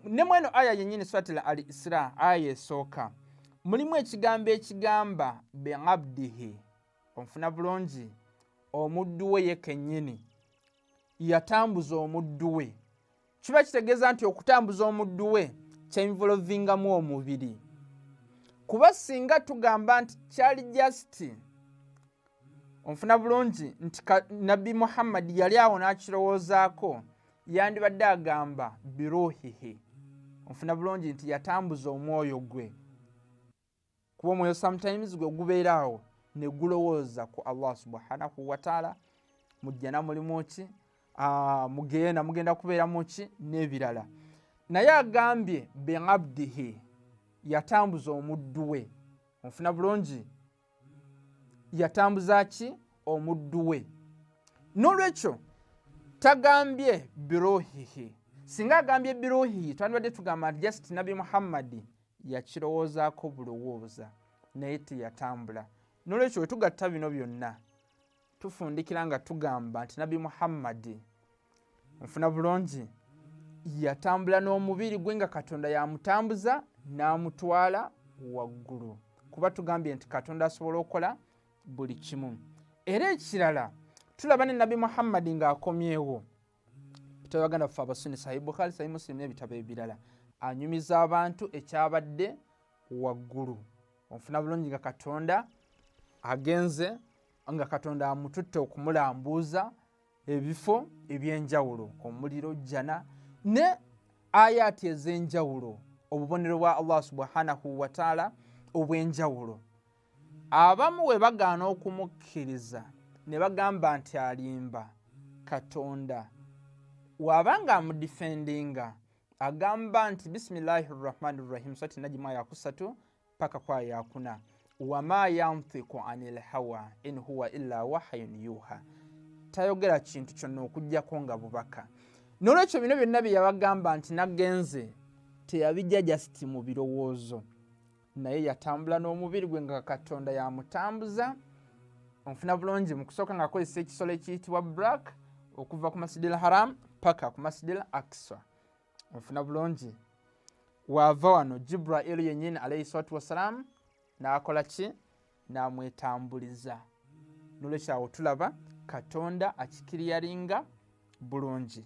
ne mweno aya yennyini swatila al isra aya esooka mulimu ekigambo ekigamba beabdihi onfuna bulungi omuddu we ye kennyini yatambuza omuddu we kiba kitegeeza nti okutambuza omuddu we kyenvolovingamu omubiri kuba singa tugamba nti kyali jasiti onfuna bulungi nti nabbi muhammadi yali awo n'akirowoozaako yandibadde agamba biruhihi onfuna bulungi nti yatambuza omwoyo gwe kuba omwoyo sometimes gwe gubeera awo ne gulowooza ku allah subhanahu wataala mu jjana mulimu ki ah, mugenda mugenda kubeeramu ki n'ebirala naye agambye beabdihi yatambuza omuddu we onfuna bulungi yatambuza ki omuddu we n'olwekyo tagambye biruhihi singa agambye biruhihi twandibadde tugamba nti just nabbi muhammadi yakirowoozaako bulowooza naye teyatambula n'olwekyo wetugatta bino byonna tufundikira nga tugamba nti nabbi muhammadi nfuna bulungi yatambula n'omubiri gwe nga katonda yamutambuza n'amutwala waggulu kuba tugambye nti katonda asobola okukola buli kimu era ekirala tulaba ne nabbi muhammadi ng'akomyewo ebitabo baganda fe abasunni sahi bukhari sahi musilimu n'ebitabo ebirala anyumiza abantu ekyabadde waggulu onfuna bulungi nga katonda agenze nga katonda amututte okumulambuuza ebifo ebyenjawulo omuliro jjana ne ayaati ez'enjawulo obubonero bwa allah subhanahu wataala obw'enjawulo abamu bwe bagaana okumukkiriza ne bagamba nti alimba katonda waba nga amudifendinga agamba nti bisimilahi rrahmani rrahim sati nagimu ayakusatu paka kwa yakuna wama yantiku ani lhawa in huwa illa wahayun yuha tayogera kintu kyonna okugyako nga bubaka nolwekyo bino byonna byeyabagamba nti nagenze teyabijja jasiti mu birowoozo naye yatambula n'omubiri gwe nga katonda yamutambuza onfuna bulungi mu kusooka ngaakozesa ekisolo ekiyitibwa black okuva ku masidil haram paka ku masidil aksa onfuna bulungi waava wano jibrailu yennyini alaihi salatu wassalamu n'akola ki n'amwetambuliza nolwekyawo tulaba katonda akikiriyaringa bulungi